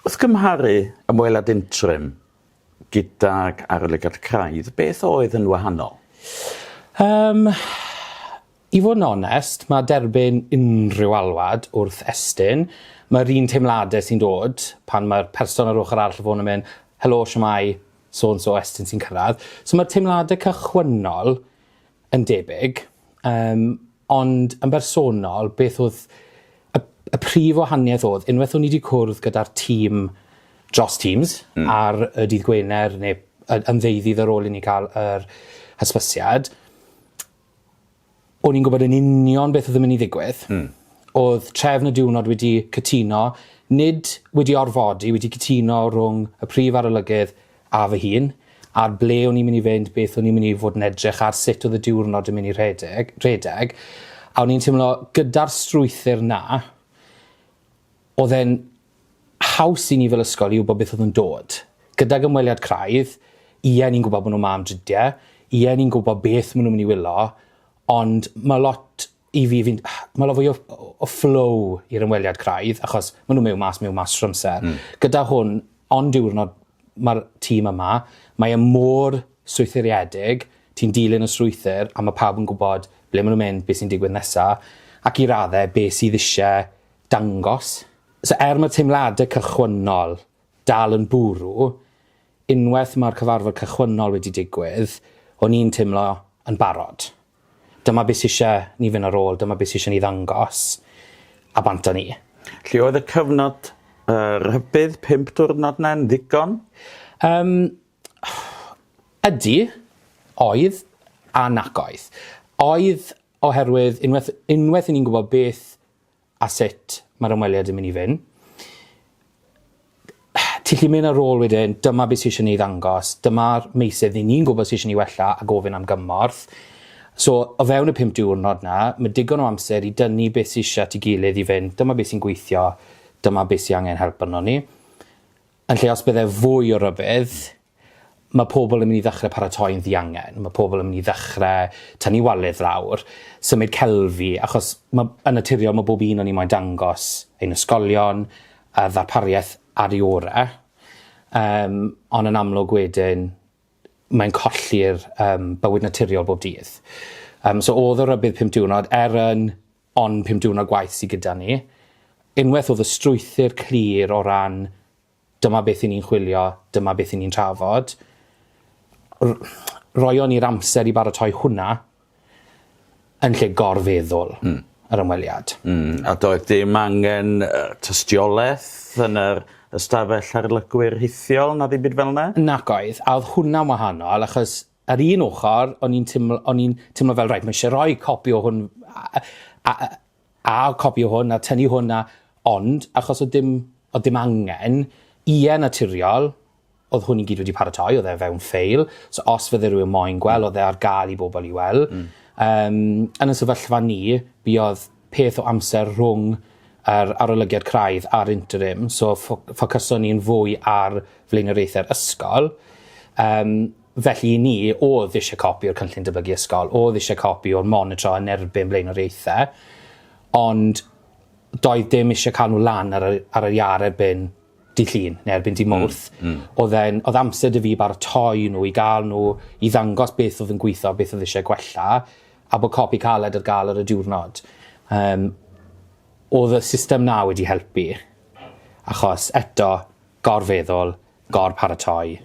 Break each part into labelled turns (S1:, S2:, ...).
S1: Wrth gymharu ymweliad interim gydag arolygiad craidd, beth oedd yn wahanol? Yym,
S2: i fod yn onest, mae derbyn unrhyw alwad wrth Estyn, mae'r un teimladau sy'n dod pan mae'r person ar ochr arall y ffôn yn mynd, helo, shwmae, so and so, Estyn sy'n cyrraedd. So mae'r teimladau cychwynnol yn debyg, yym, ond yn bersonol, beth oedd y, y prif wahaniaeth oedd, unwaith o'n i wedi cwrdd gyda'r tîm dros Teams mm. ar y dydd Gwener neu yn ddeuddydd ar ôl i ni cael yr hysbysiad, o'n i'n gwybod yn union beth oedd yn mynd i ddigwydd. Mm. Oedd trefn y diwrnod wedi cytuno, nid wedi orfodi, wedi cytuno rhwng y prif arolygydd a fy hun, ar ble o'n i'n mynd i fynd, beth o'n i'n mynd i fod yn edrych ar, sut oedd y diwrnod yn mynd i rhedeg, rhedeg, a o'n i'n teimlo gyda'r strwythur 'na, oedd e'n haws i ni fel ysgol i wybod beth oedd yn dod. Gydag ymweliad craidd, ie, ni'n gwybod bod nhw 'ma am dridiau, ie, ni'n gwybod beth maen nhw'n mynd i wylio, ond mae lot i fi fi'n ma' lot fwy o o o flow i'r ymweliad craidd achos ma' n'w mewn mas mewn mas trw amser. Hmm. Gyda hwn on diwrnod ma'r tîm yma mae e mor strwythuriedig ti'n dilyn y strwythur a ma' pawb yn gwbod ble ma' n'w mynd be' sy'n digwydd nesa ac i radde be' sydd isie dangos. So er ma' teimlade cychwynnol dal yn bwrw unweth ma'r cyfarfod cychwynnol wedi digwydd o'n i'n timlo yn barod. Dyma beth sy eisiau ni fynd ar ôl, dyma beth sy eisiau ni ddangos, a bant â ni. Lle oedd y
S1: cyfnod rhybudd pump diwrnod 'na yn ddigon? Yym,
S2: ydy, oedd a nac oedd. Oedd oherwydd unwaith unwaith i ni'n gwybod beth a sut mae'r ymweliad yn mynd i fyn. Ti'n lli mynd ar ôl wedyn, dyma beth sydd eisiau ni ddangos, dyma'r meysydd ni ni'n gwybod sydd eisiau ni wella a gofyn am gymorth. So, o fewn y pum diwrnod na, mae digon o amser i dynnu beth sydd eisiau ti gilydd i fynd, dyma beth sy'n gweithio, dyma beth sydd angen help yno ni. Yn lle os bydde fwy o rybudd, mae pobl yn mynd i ddechrau paratoi'n ddiangen, mae pobl yn mynd i ddechrau tynnu waledd lawr, symud celfi, achos mae... yn naturiol mae bob un o ni moyn dangos ein ysgolion a ddarpariaeth ar ei orau, yym, ond yn amlwg wedyn mae'n colli'r yym bywyd naturiol bob dydd. Yym, so oedd y rybudd pum diwrnod, er yn Ond pum diwrnod gwaith sy gyda ni. Unwaith oedd y strwythur clir o ran dyma beth 'yn ni'n chwilio, dyma beth 'yn ni'n trafod, r- roion ni'r amser i baratoi hwnna yn lle gorfeddwl... Mm. ...yr ymweliad. Mm, a doedd
S1: dim angen uh, tystiolaeth yn yr ystafell harlygwyr rhithiol na ddim byd fel yna? Nac oedd, a oedd
S2: hwnna'n wahanol achos Ar un ochr, o'n i'n timlo, o'n i'n timlo fel, rhaid, mae eisiau rhoi copi o hwn, a, a, a, a copi o hwn, a tynnu hwn, a, ond, achos oedd dim, oedd dim angen, ie naturiol, oedd hwn i gyd wedi paratoi, oedd e fewn ffeil, so os fydde rhywun moyn gweld, oedd e ar gael i bobl i weld. Mm. Um, yn y sefyllfa ni, mi oedd peth o amser rhwng yr arolygiad craidd a'r interim, so ffocyson ni'n fwy ar flaenoriaethau'r ysgol. Um, Felly i ni, oedd eisiau copi o'r Cynllun Datblygu Ysgol, oedd eisiau copi o'r monitro yn erbyn blaenoriaethau, ond doedd dim eisiau cael nhw lan ar yr, ar yr iâr erbyn di llun, neu erbyn di hmm, mwrth. Mm, mm. Oedd, en, oedd amser dy fi baratoi nhw, i gael nhw, i ddangos beth oedd yn gweithio, beth oedd eisiau gwella, a bod copi caled ar gael ar y diwrnod. Um, oedd y system na wedi helpu. Achos eto, gorfeddwl, gor-paratoi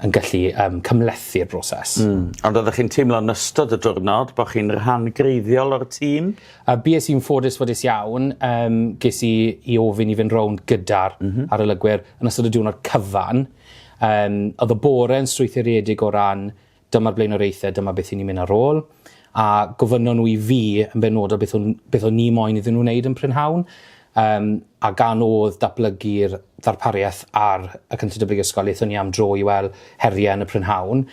S2: yn gallu um, cymlethu'r broses. Mm. Ond oeddech chi'n teimlo
S1: yn ystod y diwrnod bod chi'n rhan greiddiol o'r tîm? A bues i'n ffodus
S2: ffodus iawn, um, ges i i ofyn i fynd rownd gyda'r mm -hmm. arolygwyr yn ystod y diwrnod cyfan. Um, oedd y bore yn strwythuredig o ran dyma'r blaenoriaethau, dyma beth i ni'n mynd ar ôl, a gofynnon nhw i fi yn benodol beth o'n, beth o'n ni moyn iddyn nhw wneud yn prynhawn, um, a gan oedd datblygu'r ddarpariaeth ar y Cynllun Datblygu Ysgol, eithon ni am dro i weld heriau yn y prynhawn,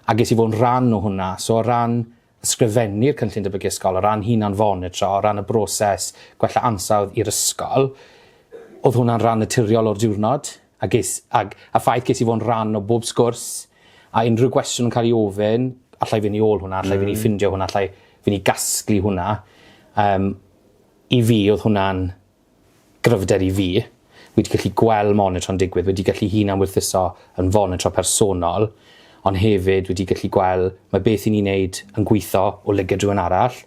S2: a ges i fod yn rhan o hwnna. So o ran ysgrifennu'r Cynllun Datblygu Ysgol, o ran hunan fonitro, o ran y broses gwella ansawdd i'r ysgol, oedd hwnna'n rhan naturiol o'r diwrnod. A ges, ag, a ffaith ges i fod yn rhan o bob sgwrs, a unrhyw gwestiwn yn cael ei ofyn, alla i fynd i ôl hwnna, alla i fynd i ffindio hwnna, alla i fynd i gasglu hwnna. Um, I fi, oedd hwnna'n gryfder i fi. Wedi gallu gweld monitro'n digwydd, wedi gallu hun am wirthuso yn fonitro personol, ond hefyd wedi gallu gweld mae beth i ni'n neud yn gweithio o lygad rhywun arall,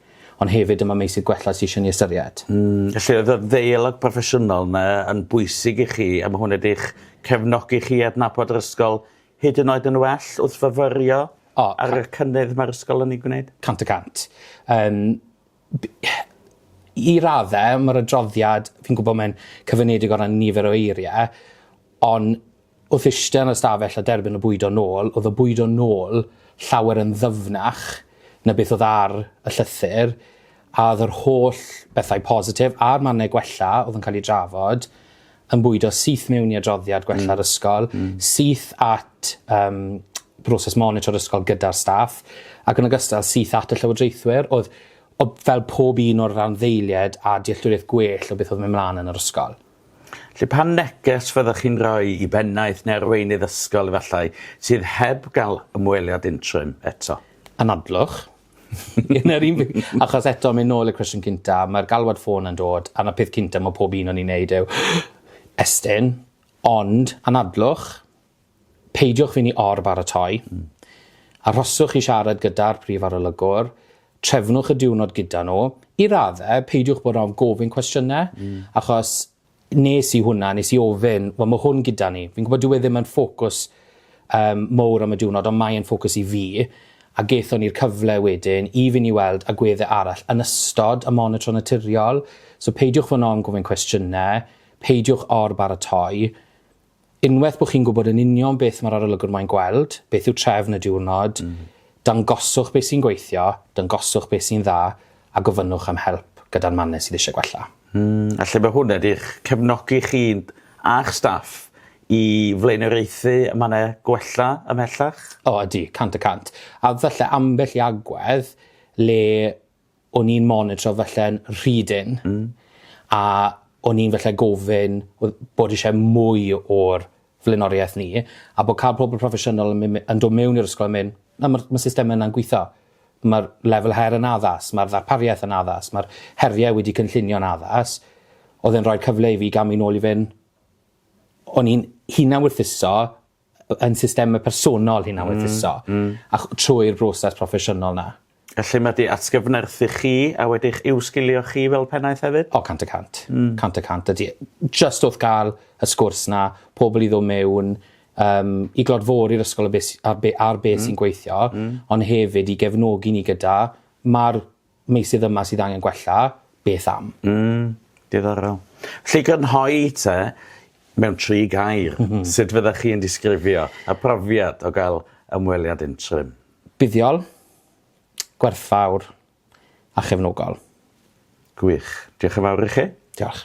S2: Ond hefyd dyma meysydd gwella sy isio ni ystyried. Felly oedd y
S1: ddeialog proffesiynol yna yn bwysig i chi a ma' hwn wedi'ch cefnogi chi i adnabod yr ysgol hyd yn oed yn well wrth fyfyrio ar y cynnydd mae'r ysgol yn ei gwneud? Cant y cant.
S2: Yym i radde ma'r adroddiad fi'n gwybod mae'n cyfyngiedig o ran nifer o eirie ond Wrth eistedd yn y stafell a derbyn y bwydo nôl, oedd y bwydo nôl llawer yn ddyfnach na beth oedd ar y llythyr, a oedd yr holl bethau positif a'r mannau gwella oedd yn cael eu drafod yn bwydo syth mewn i adroddiad gwella'r ysgol, syth at um, broses monitro'r ysgol gyda'r staff, ac yn ogystal syth at y llywodraethwyr. Oedd, oedd fel pob un o'r randdeiliaid a dealltwriaeth gwell o beth oedd mynd mlaen yn yr ysgol. Felly, pa
S1: neges fyddech chi'n rhoi i bennaeth neu arweinydd ysgol, efallai, sydd heb gael ymweliad interim eto? Anadlwch.
S2: Yn yr un bryd. Achos eto, mynd nôl i'r cwestiwn cynta, mae'r galwad ffôn yn dod, a'r peth cynta mae pob un o'n i'n neud yw, Estyn, ond, anadlwch, Peidiwch fyny or baratoi. Arhoswch i siarad gyda'r prif arolygwr, trefnwch y diwrnod gyda nhw. I radde, peidiwch bod ofn gofyn cwestiyne, achos nes i hwnna, nes i ofyn, wel ma hwn gyda ni. Fi'n gwybod dyw e ddim yn ffocws um, mowr am y diwrnod, ond mae'n ffocws i fi, a gethon ni'r cyfle wedyn i fyn' i weld agwedde arall yn ystod y monitro naturiol, so peidiwch fod yn ofn gofyn cwestiyne, peidiwch or baratoi. unwaith bod chi'n gwybod yn union beth mae'r arolygwr moyn gweld, beth yw trefn y diwrnod, dangoswch beth sy'n gweithio, dangoswch beth sy'n dda, a gofynnwch am help gyda'r mannau sydd eisiau gwella. Alle fod hwn
S1: wedi'ch cefnogi chi a'ch staff i flaenoriaethu y mannau gwella ymhellach? O, ydy, cant
S2: y cant. A falle ambell i agwedd le o'n i'n monitro falle'n rhy dynn. Hmm. A o'n i'n falle gofyn o- bod isie mwy o'r flaenoriaeth ni a bo' ca'l pobol proffesiynol yn myn' me- yn do' mewn i'r ysgol a myn' na ma'r ma' system yna'n gwitho. Ma'r lefel her yn addas ma'r ddarpariaeth yn addas ma'r herie wedi cynllunio'n addas odd e'n roi cyfle i fi ga'l myn' nôl i fyn' o'n i'n hunan werthuso b- yn systeme personol hunan weddhuso. Hmm hmm. A ch- trwy'r broses proffesiynol 'na. A lle ma' 'di
S1: atgyfnerthu chi a wedi'ch uwsgilio chi fel pennaeth hefyd? O cant y cant. Hmm.
S2: Cant y cant ydi. Jyst wrth ga'l y sgwrs 'na pobol i ddo' mewn yym i glodfori'r ysgol a be' sy a be' ar be' sy'n gweithio. Hmm. Ond hefyd i gefnogi ni gyda ma'r meysydd yma sydd angen gwella, beth am? Mm, diddorol.
S1: Felly grynhoi te mewn tri gair, mm -hmm. sut fyddech chi'n disgrifio y profiad o gael ymweliad interim? Buddiol, gwerthfawr a chefnogol. Gwych. Diolch yn
S2: fawr i chi.
S1: Diolch.